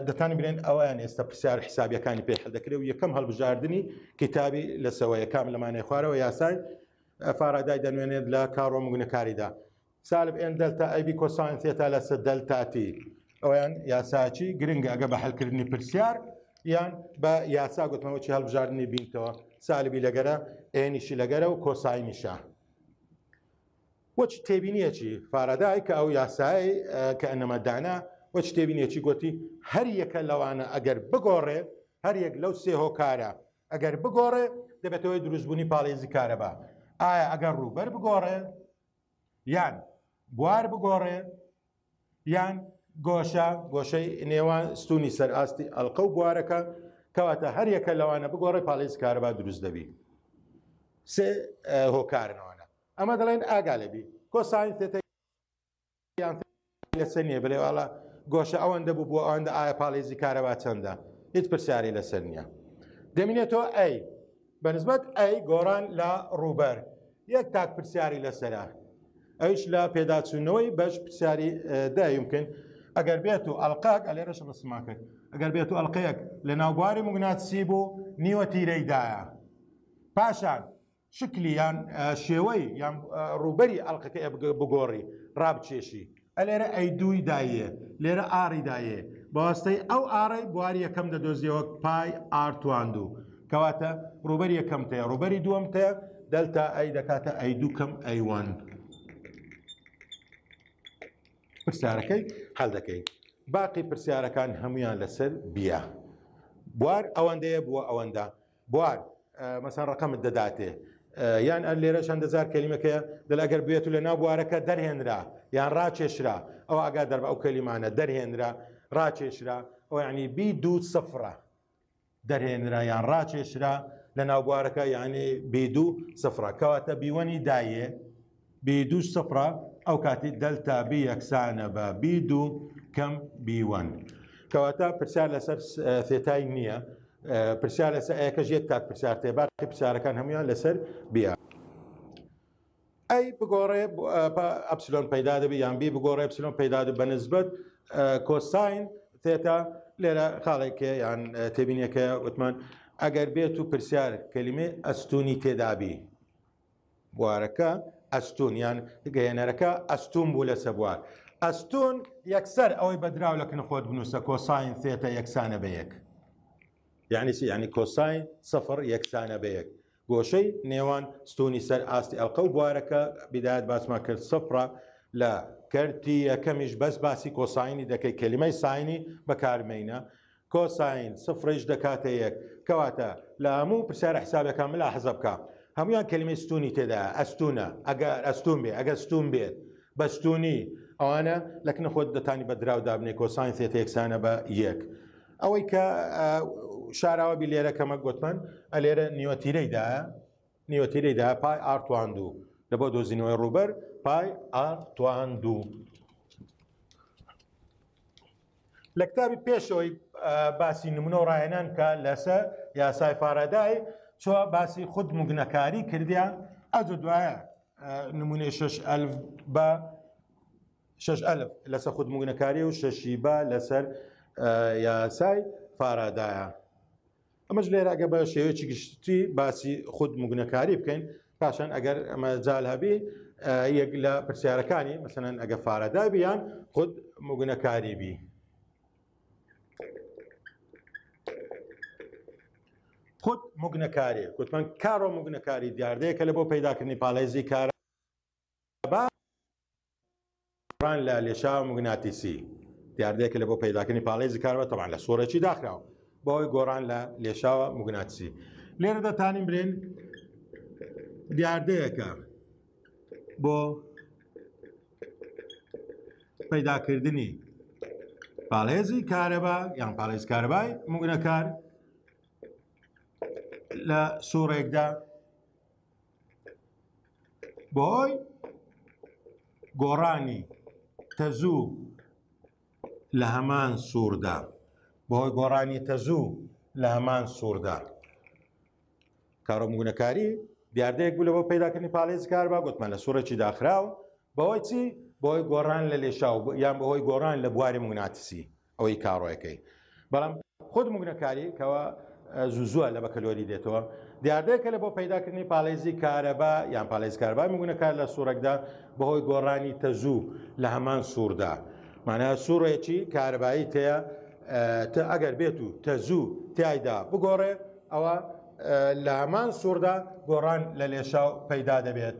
دەتان بێن ئەویان ئێستا پرسیار حسابیەکانی پێ دەکرێت و یەکەم هەڵبژاردننی کتابی لەسەوەیە کام لەمانەی خوارەوە یاسای فارادای دەنوێنێت لە کارۆ مگونەکاریدا سالب ئێن دەلتا ئەی بی کۆساین ثێتا لەسەر دەلتا تی ئەویان یاساچی گرنگە ئەگە بە حلکردنی پرسیار یان بە یاسا گوتمەوەی هەڵبژاردننی بینتەوە سالبی لەگەرە ئێنیشی لەگەرە و کۆساینیشە وەچ تێبینیەکی فارادای کە ئەو یاسایی کە ئەنەمەدانە وە شتێبینێکی گوتی هەر یەکە لەوانە ئەگەر بگۆڕێ هەر یەک لەو سێ هۆکارە ئەگەر بگۆڕێ دەبێتەوەی دروستبوونی پاڵێزی کارەبا ئایا ئەگەر ڕووبەر بگۆڕێ یان بوار بگۆڕێ یان گۆشە گۆشەی نێوان ستونی سەر ئاستی ئەلقە و بوارەکە کەواتە هەریەکە لەوانە بگۆڕێ پاڵێز کارەبا دروست دەبی سێ هۆکارنەوەە ئەمە دەڵێن ئاگا لەبی کۆساین تێتە لەسەر نییە بلێ واڵا گۆشە ئەوەندە بوو بۆ ئەوەندە ئایا پاڵێزی کارەبا چەندە هیچ پرسیاری لەسەر نییە دەمینێتەوە ئەی بەنسبەت ئەی گۆڕان لە ڕووبەر یەک تاک پرسیاری لەسرە ئەوش لە پێداچوونەوەی بەش پرسیاری دایمکن ئەگەر بێت و ئەلقاک ئەلێرەش ڕسمان کرد ئەگەر بێت و ئەلقەیەک لە ناوبواری مگناتسی بوو نیوە تیرەیدایە پاشان شکلی یان شێوەی یان ڕووبەری ئەڵقەکە بگۆڕی ڕابچێشی ئەلێرە ئەی دووی دایە لێرە ئاری دایە بەواستەی ئەو ئاڕی بواری یەکەم دەدۆزیەوە پای ئارتواندوو کەواتە ڕوبەر یەکەم تەیە ڕوبەری دووەم تەیە دەلتا ئەی دەکاتە ئەی دووکەم ئەیوان پرسیارەکەی هەل دەکەی باقی پرسیارەکان هەمویان لەسەر بیە بوار ئەوەندەیە بووە ئەوەندە بوار، مەسەن ڕەقەمت دەداتێ. یان ئەر لێرە چەندە جار کەلیمەکە دەل ئەگەر بوێت و لە ناو بوارەکە دەرهێنرا یان ڕاکێشرا ئەوا ئاگادار بە ئەو کەلیمانە دەرهێنرا، ڕاکێشرا، ئەوە یانی بی دوو سفرە. دەرهێنرا یان ڕاکێشرا لە ناو بوارەکە یانی بی دوو سفرە. کەواتە بیوەنی دایێ بی دوو سفرە ئەو کاتی دەلتا بی یەکسانە بە بی دوو کەم بیوەن کەواتە پرسیار لەسەر ثێتای نییە پرسیار لەسەر ئەیەکەش یەک تاک پرسیار تێ باقی پرسیارەکان هەمویان لەسەر بیا ئەی بگۆڕێ ئەپسلۆن پەیدا دەبی یان بی بگۆڕێ ئەپسلۆن پەیدا بە نسبەت کۆساین تێتا لێرە خاڵێکێ یان تێبینەکە وتمان ئەگەر بێت و پرسیار کەلیمێ ئەستونی تێدابی بوارەکە ئەستوون یان گەیەنەرەکە ئەستوون بوو لەسە بوار ئەستوون یەکسەر ئەوەی بەدراو لە کن خۆت بنووسە کۆساین ثێتە یەکسانە بە یەک یعنی چی یعنی کۆساین سفر یەکسانە بە یەک گۆشەی نێوان ستونی سەر ئاستی ئەڵقە و بوارەکە بدایەت باسمان کرد سفرە لە کەرتی یەکەمیش بەس باسی کۆساینی دەکەی کەلیمەی ساینی بەکارمەینە کۆساین سفڕیش دەکاتە یەک. کەواتە لە هەموو پرسیارە حسابێکا ملاحزە بکە هەموویان کەلیمەی ستوونی تێدایە ئەستوونە ئەگەر ئەستوون بێ ئەگەر ستوون بێت بە ستوونی ئەوانە لەکنە خۆت دەتانی بە دراو دابنێ کۆساین سێتە یەکسانە بە یەک ئەوەی کە شاراوەبی لێرە کەمە گوتمان ئەلێرە نیوەتیرەیدایە نیوەتیرەی دا پای ئار توان دوو لە بۆ دۆزینەوەی ڕووبەر پای ئار توان دوو لە کتابی پێشەوەی باسی نمونە و ڕایەنان کە لەسە یاسای فارادای چۆ باسی خود مگنەکاری کردیا ئەج دوایە نمونەی شش ئەلف بە شش ئەلف لەسەر خود مگنەکاری و شەشی بە لەسەر یاسای فارادایە ئەمەش لێرە ئەگە بە شێوەیەکی گشتی باسی خود مگونەکاری بکەین پاشان ئەگەر ئەمە جال هەبی یەک لە پرسیارەکانی مەسەن ئەگە فارەدا بیان خود مگونەکاری بی. خود مگنەکاری کوتمان کارۆ مگنەکاری دیاردەیە کە لە بۆ پەیداکردنی پالێزی کارە با بڕان لە لێشاوە موگناتیسی دیاردەیەکە لە بۆ پەیداکردنی پاڵێزی کارەبا تەبان لە سۆرەکی داخراوە بەوەی گۆڕان لە لێشاوە موگناتیسی لێرە دەتانین برێن دیاردەیەکە بۆ پەیداکردنی پاڵێزی کارەبا یان پاڵێز کارەبای موگنەکار لە سوڕێکدا بەهۆی گۆڕانی تەزوو لە هەمان سووردا بەهۆی گۆڕانی تەزوو لە هەمان سووردا کارۆمگونەکاری دیاردەیەک بوو لەوە پیداکردنی پاڵێز کار با گوتمان لە سوورێکی داخراو بەهۆی چی بەهۆی گۆڕان لە لێشاو یان بەهۆی گۆڕان لە بواری مگناتسی ئەوەی کاڕۆیەکەی بەڵام خود مگنەکاری کەوا زوزوە لە بەکەلۆری دێتەوە دیاردەیەکە لە بۆ پەیداکردنی پاڵێزی کارەبا یان پاڵێز کاربا مگونەکار لە سوورەکدا بەهۆی گۆڕانی تەزوو لە هەمان سووردا مانە سوورێکی کارەبایی تەیە تە ئەگەر بێت و تەزوو تایدا بگۆڕێ ئەوە لە هەمان سووردا گۆڕان لە لێشاو پەیدا دەبێت.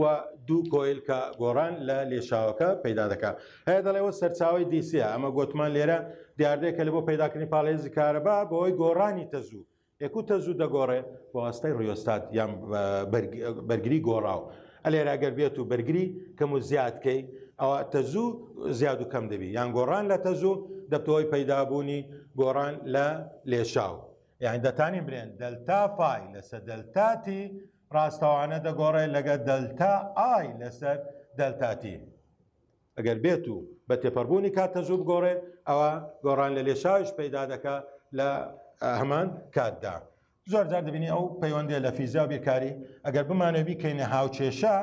و دوو کۆیل کە گۆڕان لە لێشاوەکە پەیدا دەکات هەیە دەڵێەوە سەرچاوی دیسیە ئەمە گوتمان لێرە دیاردەیەکە لە بۆ پەیداکردنی پاڵێزی کارەبا بەوەی گۆڕانی تەزوو یەکو تەزوو دەگۆڕێ بەواستای ڕیۆستات یان بەرگری گۆڕاو ئەلێرا گەر بێت و بەرگری کەم و زیادکەی ئەوە تەزوو زیاد و کەم دەبی یان گۆڕان لە تەزوو دەبتەوەی پەیدابوونی گۆڕان لە لێشاو یانی دەتانی برێن دەلتا پای لەسەر دەلتا تی ڕاستەوانە دەگۆڕێت لەگە دەلتا ئای لەسەر دەلتا تی ئەگەر بێت و بە تێپەڕبوونی کات تەزوو بگۆڕێ ئەوە گۆڕان لە لێشاوش پەیدا دەکە لە هەمان کاتدا زۆر جار دەبینی ئەو پەیوەندێ لە فیزیا بیرکاری ئەگەر بمانەوی کەینە هاوچێشە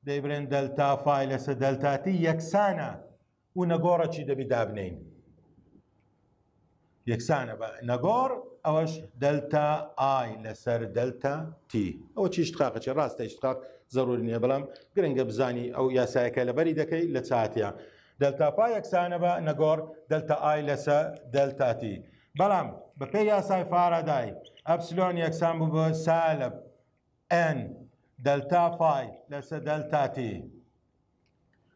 دەیبرێن دەلتا فای لەسە دەلتاتی یەکسانە و نەگۆڕە چی دەبی دابنین یەکسانە بە نەگۆڕ ئەوەش دەلتا ئای لەسەر دەلتا تی ئەو چی شتقاقەچی ڕاستە شتقاق زەرور نییە بەڵام گرنگە بزانی ئەو یاسایەکە لەبەری دەکەی لە چاتە دەلتا پا یەکسانە بە نەگۆڕ دەلتا ئای لەسە دەلتاتی بەڵام بەپێ یاسای فارادای ئەپسلۆن یەکسان بوو بە سالب ئەن دەلتا فای لەسە دەلتاتی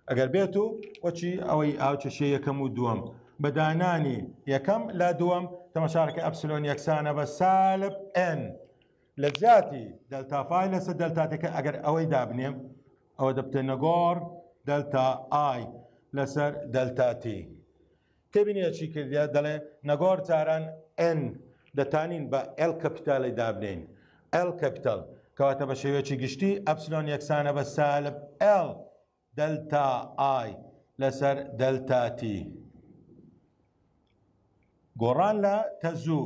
ئەگەر بێت و وەچی ئەوەی ئاوچەشێ یەکەم و دووەم بەدانانی یەکەم لا دووەم تەمەشارەکە ئەپسلۆن یەکسانە بە سالب ئەن لە جیاتی دەلتافای لەسەر دەلتاتەکە ئەگەر ئەوەی دابنێم ئەوە دەبتێ نەگۆڕ دەلتا ئای لەسەر دەلتاتی تێبینیە چی کردیە دەڵێ نەگۆڕ تاران ئێن دەتانین بە ئێل کەپیتالی دابنێین ئێل کەپیتال کەواتە بە شێوەیەکی گشتی ئەپسلۆن یەکسانە بە سالب ئێل دەلتا ئای لەسەر دەلتا تی گۆڕان لە تەزوو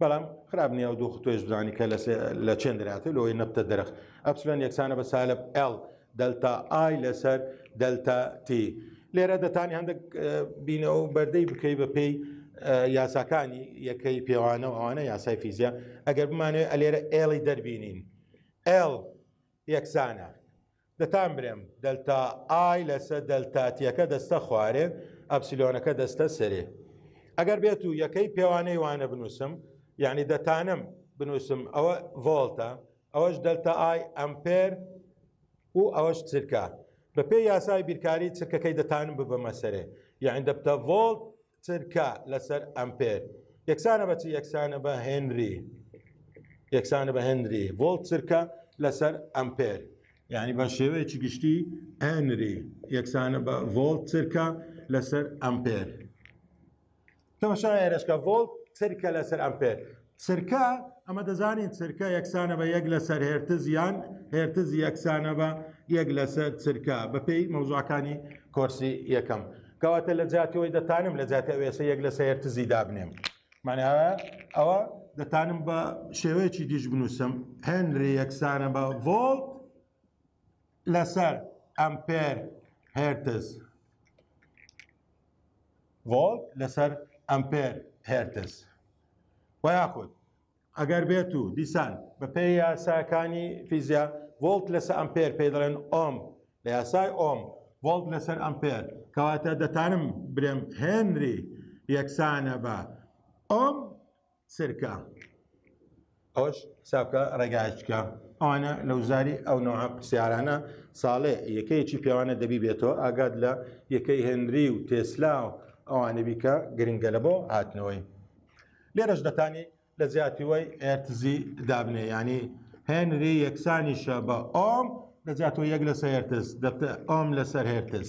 بەڵام خراپ نیە و دوو خطۆێش بزانانی کە لە چێن دراتێ لەوەی نەبتە درخ ئەپسلۆن یەکسانە بە سالب L دەلتا ئای لەسەر دەلتا تی لێرە دەتانی هەندێک بینە و بەردەی بکەی بە پێی یاساکانی یەکەی پێوانە و ئەوانە یاسای فیزیا ئەگەر بمانێت ئەلێرە ئێڵی دەربینین ئێڵ یەکسانە دەتان برێم دەلتا ئای لەسە دەلتا تیەکە دەستە خوارێ ئەپسیلۆنەکە دەستە سەرێ ئەگەر بێت و یەکەی پێوانەی وانە بنووسم یعنی دەتانم بنووسم ئەوە ڤۆلتە ئەوەش دەلتا ئای ئەمپێر و ئەوەش چرکە بەپێی یاسای بیرکاری چرکەکەی دەتانم ببەمە سەرێ یعنی دەبتە ڤۆلت چرکە لەسەر ئەمپێر یەکسانە بەچی یەکسانە بە هێنری یەکسانە بە هێنری ڤۆڵت چرکە لەسەر ئەمپێر یعنی بە شێوەیەکی گشتی ئەنری یەکسانە بە ڤۆڵت چرکە لەسەر ئەمپێر تەمەشا ئێرشکە ڤۆڵت چرکە لەسەر ئەمپێر چرکە، ئەمە دەزانین چرکە یەکسانە بە یەک لەسەر هێرتز یان هێرتز یەکسانە بە یەک لەسەر چرکە بەپێی مەوزوعەکانی کۆرسی یەکەم کەواتە لە جاتیەوەی دەتانم لە جاتی ئەوێسە یەک لەسەر هێرتزی دابنێم ماناوە ئەوە دەتانم بە شێوەیەکی دیش بنووسم هێنری یەکسانە بە ڤۆڵت لەسەر ئەمپێر هێرتز ڤۆڵت لەسەر ئەمپێر هێرتز و یاخود ئەگەر بێت و دیسان بەپێی یاساکانی فیزیا ڤۆڵت لەسە ئەمپێر پێ دەڵێن ئۆم لە یاسای ئۆم ڤۆڵت لەسەر ئەمپێر کەواتە دەتانم برێم هێنری یەکسانە بە ئۆم سرکە ئەوەش حسابکە ڕێگایچکە ئەوانە لەوزاری ئەو نەوە پرسیارانە ساڵێ یەکەیەکی پێوانە دەبی بێتەوە ئاگاد لە یەکەی هێنری و تێسلا و ئەوانە بیکە گرنگە لە بۆ هاتنەوەی لێرەش دەتانی لە زیاتی وای ئەرتزی دابنێ ینی هێنری یەکسانیشە بە ئۆم لە زیاتەوە یەک لەسەر هێرتز دەبتە ئۆم لەسەر هێرتز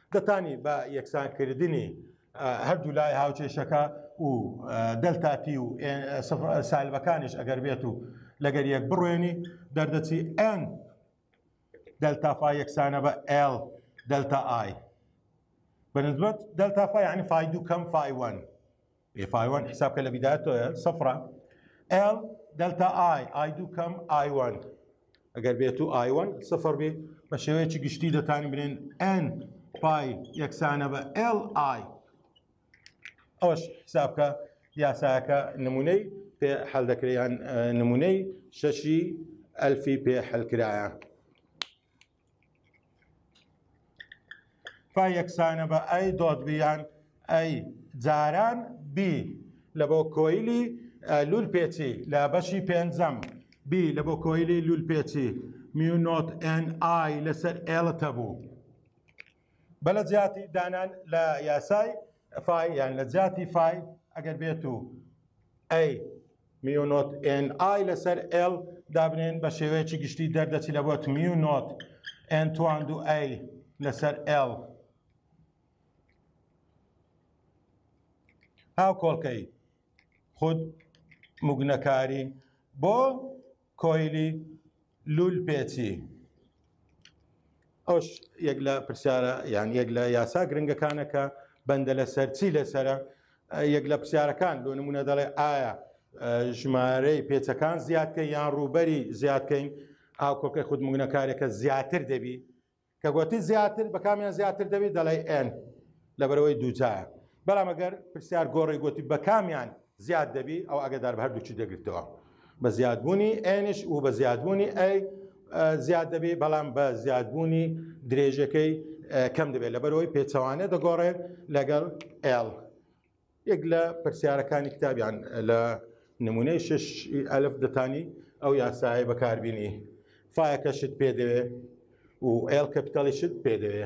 دەتانی بە یەکسانکردنی هەردوو لای هاوچێشەکە و دەلتاپی و سالبەکانیش ئەگەر بێت و لەگەر یەک بڕوێنی دەردەچی ئەن دەلتافا یەکسانە بە ئل دەلتا ئای بەنسبەت دەلتافا یعنی فای دوو کەم فای وەن بێ پایوان حساب کە لە بیدایە تۆە سەفرە ئێڵ دەلتا ئای ئای دوو کەم ئایوان ئەگەر بێت و ئایوان سفر بێ بە شێوەیەکی گشتی دەتانی برێن ئەن پای یەکسانە بە ئێل ئای ئەوش حسابکە یاساکە نمونەی پێ حل دەکریان نمونەی شەشی ئەلفی پێ حلکرایە فا یەکسانە بە ئەی دۆت بیان ئەی جاران بی لە بۆ کۆیلی لول پێچی لە بەشی پێنجەم بی لە بۆ کۆیلی لول پێچی میونۆت ئەن ئای لەسەر ئێڵتە بوو. بە لە جیاتی دانان لە یاسای فای یان لە جیاتی فای ئەگەر بێت و ئەی میونۆت ئێن ئای لەسەر ئێل دابنێن بە شێوەیەکی گشتی دەردەچی لە بۆت میونۆت ئێن تواند و ئەی لەسەر ئێل هاو کۆڵکەی خود مگنەکاری بۆ کۆیلی لولپێچی ئەوش یەک لە پرسیارە یان یەک لە یاسا گرنگەکانە کە بەندە لەسەر چی لەسرە یەک لە پرسیارەکان بۆ نمونە دەڵێ ئایا ژمارەی پێچەکان زیادکە یان ڕووبەری زیادکەین ئاکۆکەی خودمونەکارێکە زیاتر دەبی کە گۆتی زیاتر بە کامیان زیاتر دەبی دەڵێی ئێن لەبەرەوەی دووجایە بەڵام ئەگەر پرسیار گۆڕی گۆتی بە کامیان زیاد دەبی ئەو ئەگەدار بە هەردووچی دەگرتەوە بە زیادبوونی ئێنش و بە زیادبوونی ئەی زیاد دەبی بەڵام بە زیادبوونی درێژەکەی کەم دەبێت لەبەرەوەی پێچەوانە دەگۆڕێت لەگەڵ ئێڵ یەک لە پرسیارەکانی کتابیان لە نمونەی شش ئەلف دەتانی ئەو یاسایە بەکاربیینی فایەکە شت پێ دەوێ و ئێل کەپیتالی شت پێ دەوێ